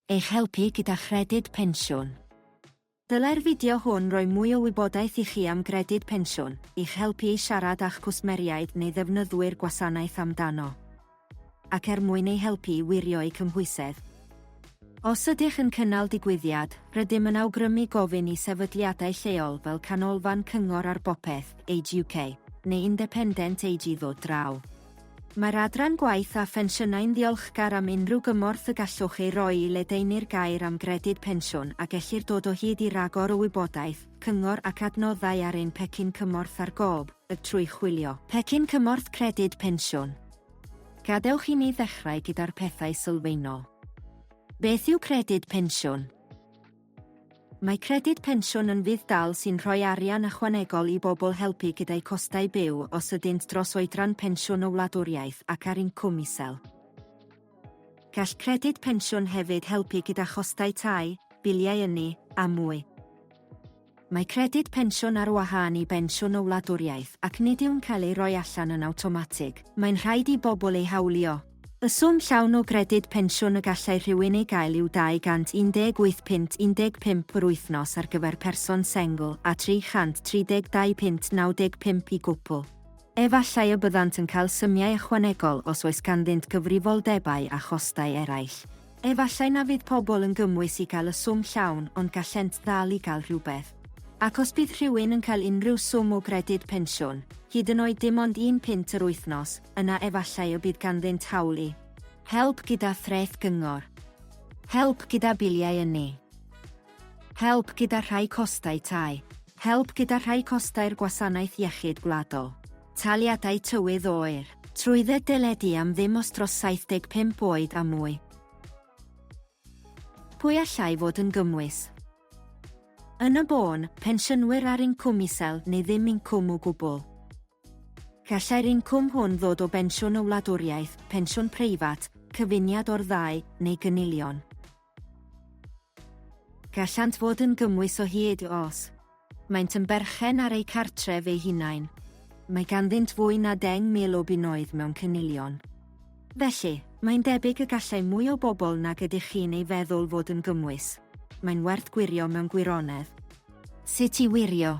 Eich helpu gyda chredyd pensiwn. Dylai'r fideo hwn roi mwy o wybodaeth i chi am gredyd pensiwn, i'ch helpu i siarad â'ch cwsmeriaid neu ddefnyddwyr gwasanaeth amdano, ac er mwyn eu helpu i wirio'u cymhwysedd. Os ydych yn cynnal digwyddiad, rydym yn awgrymu gofyn i sefydliadau lleol fel Canolfan Cyngor ar Bopeth, Age UK, neu Independent Age i ddod draw. Mae'r Adran Gwaith a Phensiynau'n ddiolchgar am unrhyw gymorth y gallwch ei roi i ledaenu'r gair am Gredyd Pensiwn a gellir dod o hyd i ragor o wybodaeth, cyngor ac adnoddau ar ein Pecyn Cymorth ar Gob, y trwy chwilio. Pecyn Cymorth Credyd Pensiwn. Gadewch i ni ddechrau gyda'r pethau sylfaenol. Beth yw Credyd Pensiwn? Mae Credyd Pensiwn yn fudd-dal sy'n rhoi arian ychwanegol i bobl helpu gyda'u costau byw os ydynt dros oedran pensiwn o wladwriaeth ac ar incwm isel. Gall Credyd Pensiwn hefyd helpu gyda chostau tai, biliau ynni, a mwy. Mae Credyd Pensiwn ar wahân i Bensiwn y Wladwriaeth ac nid yw'n cael ei roi allan yn awtomatig, mae'n rhaid i bobl ei hawlio. Y swm llawn o Gredyd Pensiwn y gallai rhywun ei gael yw 218 punt 15 yr wythnos ar gyfer person sengl a 332 punt 95 i gwpl. Efallai y byddant yn cael symiau ychwanegol os oes ganddynt gyfrifoldebau a chostau eraill. Efallai na fydd pobl yn gymwys i gael y swm llawn ond gallent ddal i gael rhywbeth. Ac os bydd rhywun yn cael unrhyw swm o gredyd pensiwn, hyd yn oed dim ond un punt yr wythnos, yna efallai y bydd ganddynt hawl i. Help gyda threth gyngor. Help gyda biliau ynni. Help gyda rhai costau tai. Help gyda rhai costau'r Gwasanaeth Iechyd Gwladol. Taliadau tywydd oer, trwydded deledu am ddim os dros 75 oed a mwy. Pwy allai fod yn gymwys? Yn y bôn, pensiynwyr ar incwm isel neu ddim incwm o gwbl. Gallai'r incwm hwn ddod o bensiwn y wladwriaeth, pensiwn preifat, cyfuniad o'r ddau, neu gynilion. Gallant fod yn gymwys o hyd os maent yn berchen ar eu cartref eu hunain. Mae ganddynt fwy na 10,000 o bunnoedd mewn cynilion. Felly, mae'n debyg y gallai mwy o bobl nag ydych chi'n ei feddwl fod yn gymwys. Mae'n werth gwirio mewn gwirionedd. Sut i wirio?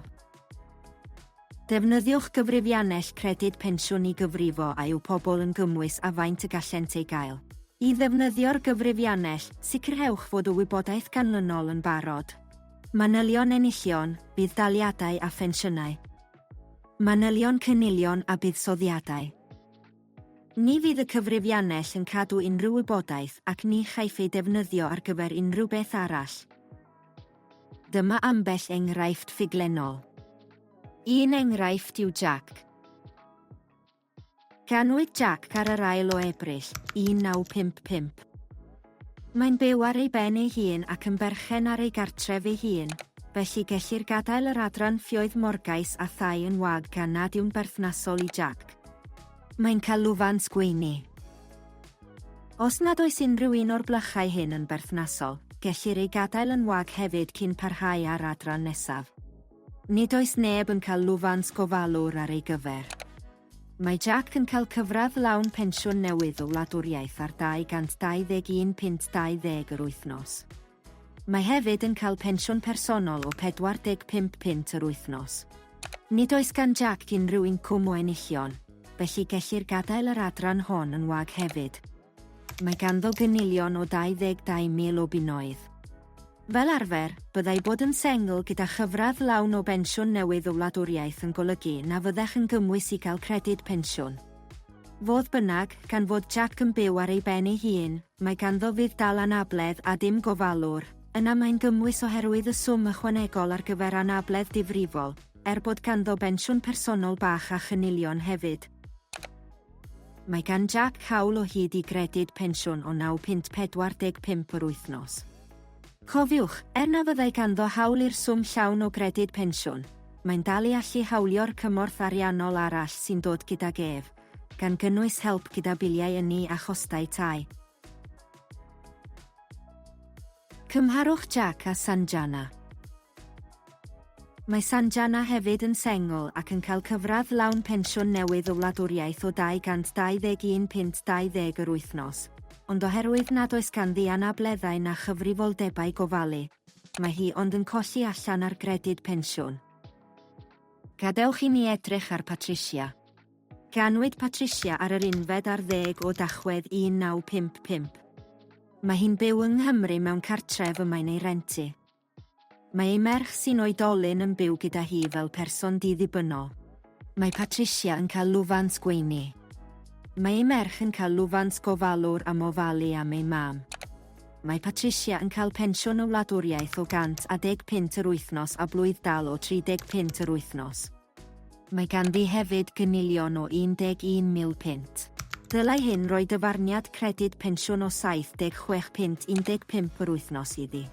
Defnyddiwch gyfrifiannell Credyd Pensiwn i gyfrifo a yw pobl yn gymwys a faint y gallent ei gael. I ddefnyddio'r gyfrifiannell, sicrhewch fod y wybodaeth ganlynol yn barod. Manylion enillion, budd-daliadau a phensiynau. Manylion cynilion a buddsoddiadau. Ni fydd y cyfrifiannell yn cadw unrhyw wybodaeth ac ni chaiff ei defnyddio ar gyfer unrhyw beth arall. Dyma ambell enghraifft ffuglennol. Un enghraifft yw Jack. Ganwyd Jack ar yr ail o Ebrill, 1955. Mae'n byw ar ei ben ei hun ac yn berchen ar ei gartref ei hun, felly gellir gadael yr adran ffioedd morgais a thai yn wag gan nad yw'n berthnasol i Jack. Mae'n cael lwfans gweini. Os nad oes unrhyw un o'r blychau hyn yn berthnasol, gellir ei gadael yn wag hefyd cyn parhau â'r adran nesaf. Nid oes neb yn cael lwfans gofalwr ar ei gyfer. Mae Jack yn cael cyfradd lawn pensiwn newydd y wladwriaeth ar 221 punt 20 yr wythnos. Mae hefyd yn cael pensiwn personol o 45 punt yr wythnos. Nid oes gan Jack unrhyw incwm o enillion, felly gellir gadael yr adran hon yn wag hefyd. Mae ganddo gynilion o 22,000 o bunnoedd. Fel arfer, byddai bod yn sengl gyda chyfradd lawn o bensiwn newydd o wladwriaeth yn golygu na fyddech yn gymwys i gael credyd pensiwn. Fodd bynnag, gan fod Jac yn byw ar ei ben ei hun, mae ganddo fudd dal anabledd a dim gofalwr. Yna mae'n gymwys oherwydd y swm ychwanegol ar gyfer anabledd difrifol, er bod ganddo bensiwn personol bach a chynilion hefyd. Mae gan Jac hawl o hyd i gredyd pensiwn o 9 punt 45 yr wythnos. Cofiwch, er na fyddai ganddo hawl i'r swm llawn o Gredyd Pensiwn, mae'n dal i allu hawlio'r cymorth ariannol arall sy'n dod gydag ef, gan gynnwys help gyda biliau ynni a chostau tai. Cymharwch Jack a Sanjana. Mae Sanjana hefyd yn sengl ac yn cael cyfradd lawn pensiwn newydd y wladwriaeth o 221 punt 20 yr wythnos, ond oherwydd nad oes ganddi anableddau na chyfrifoldebau gofalu, mae hi ond yn colli allan ar gredyd pensiwn. Gadewch i ni edrych ar Patricia. Ganwyd Patricia ar yr unfed ar ddeg o Dachwedd 1955. Mae hi'n byw yng Nghymru mewn cartref y mae'n ei rentu. Mae ei merch sy'n oedolyn yn byw gyda hi fel person di-ddibynnol. Mae Patricia yn cael lwfans gweini. Mae ei merch yn cael lwfans gofalwr am ofalu am ei mam. Mae Patricia yn cael pensiwn y wladwriaeth o 110 punt yr wythnos a blwydd-dal o 30 punt yr wythnos. Mae ganddi hefyd gynilion o 11 mil punt. Dylai hyn roi dyfarniad credyd pensiwn o 76 punt 15 yr wythnos iddi.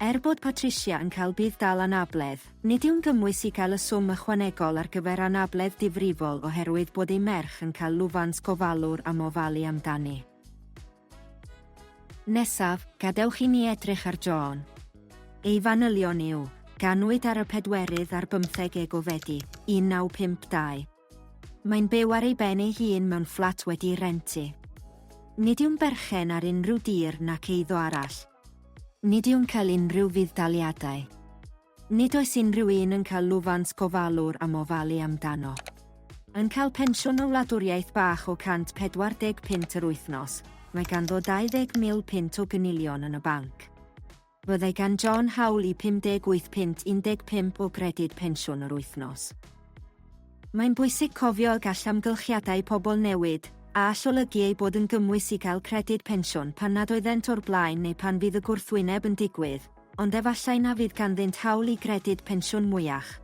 Er bod Patricia yn cael budd-dal anabledd, nid yw'n gymwys i gael y swm ychwanegol ar gyfer anabledd difrifol oherwydd bod ei merch yn cael lwfans gofalwr am ofalu amdani. Nesaf, gadewch i ni edrych ar John. Ei fanylion yw, Ganwyd ar y pedwerydd ar bymtheg Ego Fedi, 1952. Mae'n byw ar ei ben ei hun mewn fflat wedi'i rentu. Nid yw'n berchen ar unrhyw dir nac eiddo arall. Nid yw'n cael unrhyw fudd-daliadau. Nid oes unrhyw un yn cael lwfans gofalwr am ofalu amdano. Yn cael pensiwn o wladwriaeth bach o 140 punt yr wythnos, mae ganddo 20,000 punt o gynilion yn y banc. Byddai gan John hawl i 58 punt 15 o gredyd pensiwn yr wythnos. Mae'n bwysig cofio y gall amgylchiadau pobl newid, a all olygu eu bod yn gymwys i gael credyd pensiwn pan nad oeddent o'r blaen neu pan fydd y gwrthwyneb yn digwydd, ond efallai na fydd ganddynt hawl i gredyd pensiwn mwyach.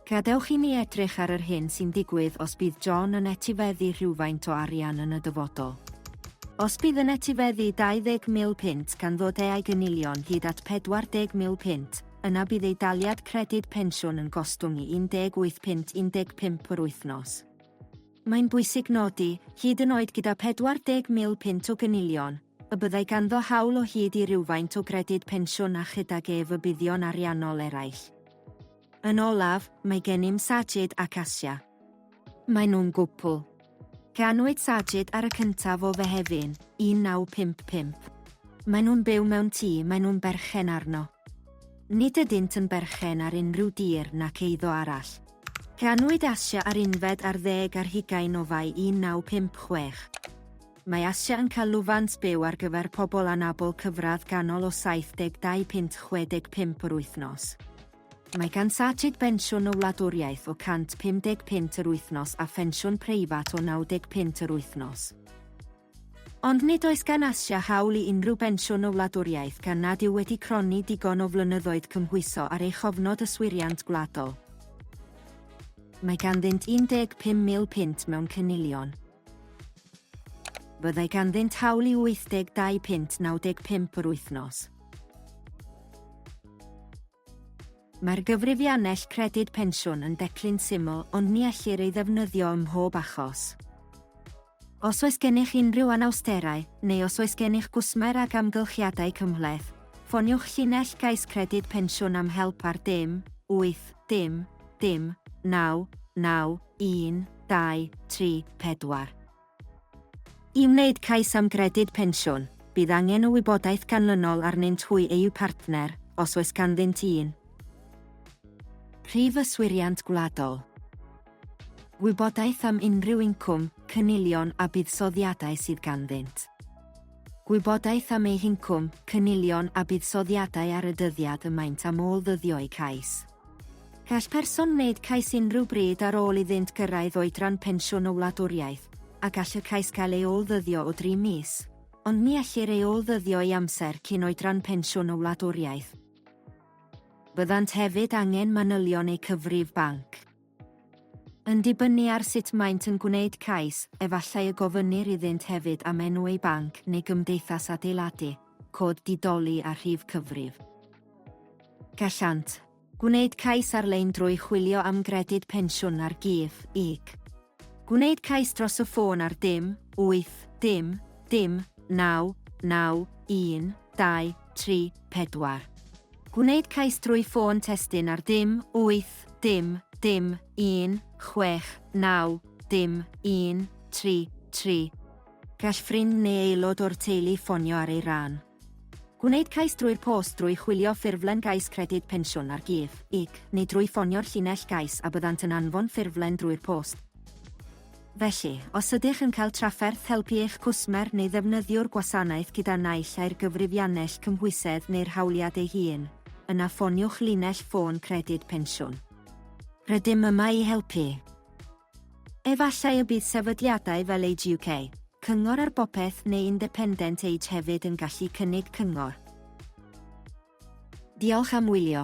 Gadewch i ni edrych ar yr hyn sy'n digwydd os bydd John yn etifeddu rhywfaint o arian yn y dyfodol. Os bydd yn etifeddu 20,000 punt gan ddod eai gynilion hyd at 40,000 punt, yna bydd ei daliad credyd pensiwn yn gostwng i 18 punt 15 yr wythnos. mae'n bwysig nodi, hyd yn oed gyda 40,000 punt o gynilion, y byddai ganddo hawl o hyd i rywfaint o gredyd pensiwn a chydag ef y buddion ariannol eraill. Yn olaf, mae gennym Sajid ac Asia. Maen nhw'n gwpl. Ganwyd Sajid ar y cyntaf o Fehefin, 1955. Maen nhw'n byw mewn tŷ maen nhw'n berchen arno. Nid ydynt yn berchen ar unrhyw dir nac eiddo arall. Ganwyd Asia ar unfed ar ddeg ar hugain o Fai 1956. Mae Asia yn cael lwfans byw ar gyfer pobl anabl cyfradd ganol o 72 punt 65 yr wythnos. Mae gan Sajid bensiwn y wladwriaeth o 150 punt yr wythnos a phensiwn preifat o 90 punt yr wythnos. Ond nid oes gan Asia hawl i unrhyw bensiwn o wladwriaeth gan nad yw wedi cronni digon o flynyddoedd cymhwyso ar ei chofnod yswiriant gwladol. Mae ganddynt 15,000 punt mewn cynilion. Byddai ganddynt hawl i 82 punt 95 yr wythnos. Mae'r gyfrifiannell Credyd Pensiwn yn declyn syml ond ni ellir ei ddefnyddio ym mhob achos. Os oes gennych unrhyw anawsterau, neu os oes gennych gwsmer ag amgylchiadau cymhleth, ffoniwch llinell gais Credyd Pensiwn am help ar dim wyth dim dim naw naw un dau tri pedwar. I wneud cais am Gredyd Pensiwn, bydd angen y wybodaeth ganlynol arnynt hwy eu partner, os oes ganddynt un. Prif Yswiriant Gwladol. Gwybodaeth am unrhyw incwm, cynilion a buddsoddiadau sydd ganddynt. Gwybodaeth am eu hincwm, cynilion a buddsoddiadau ar y dyddiad y maent am ôl-ddyddio eu cais. Gall person wneud cais unrhyw bryd ar ôl iddynt gyrraedd oedran pensiwn y wladwriaeth, a gall y cais gael ei ôl-ddyddio o dri mis, ond ni ellir ei ôl-ddyddio i amser cyn oedran pensiwn y wladwriaeth. Byddant hefyd angen manylion eu cyfrif banc. Yn dibynnu ar sut maent yn gwneud cais, efallai y gofynnir iddynt hefyd am enw eu banc neu gymdeithas adeiladu, cod di-doli a rhif cyfrif. Gallant. Gwneud cais ar-lein drwy chwilio am Gredyd Pensiwn ar gig, ig. Gwneud cais dros y ffôn ar dim, wyth, dim, dim, naw, naw, un, dau, tri, pedwar. Gwneud cais drwy ffôn testun ar dim, wyth, dim, dim, un, chwech, naw, dim, un, tri, tri. Gall ffrind neu aelod o'r teulu ffonio ar ei ran. Gwneud cais drwy'r post drwy chwilio ffurflen gais Credyd Pensiwn ar Gig, ig, neu drwy ffonio'r llinell gais a byddant yn anfon ffurflen drwy'r post. Felly, os ydych yn cael trafferth helpu eich cwsmer neu ddefnyddiwr gwasanaeth gyda naill ai'r gyfrifiannell cymhwysedd neu'r hawliad ei hun, yna ffoniwch linell ffôn Credyd Pensiwn. Rydym yma i helpu. Efallai y bydd sefydliadau fel Age UK, Cyngor ar Bopeth neu Independent Age hefyd yn gallu cynnig cyngor. Diolch am wylio.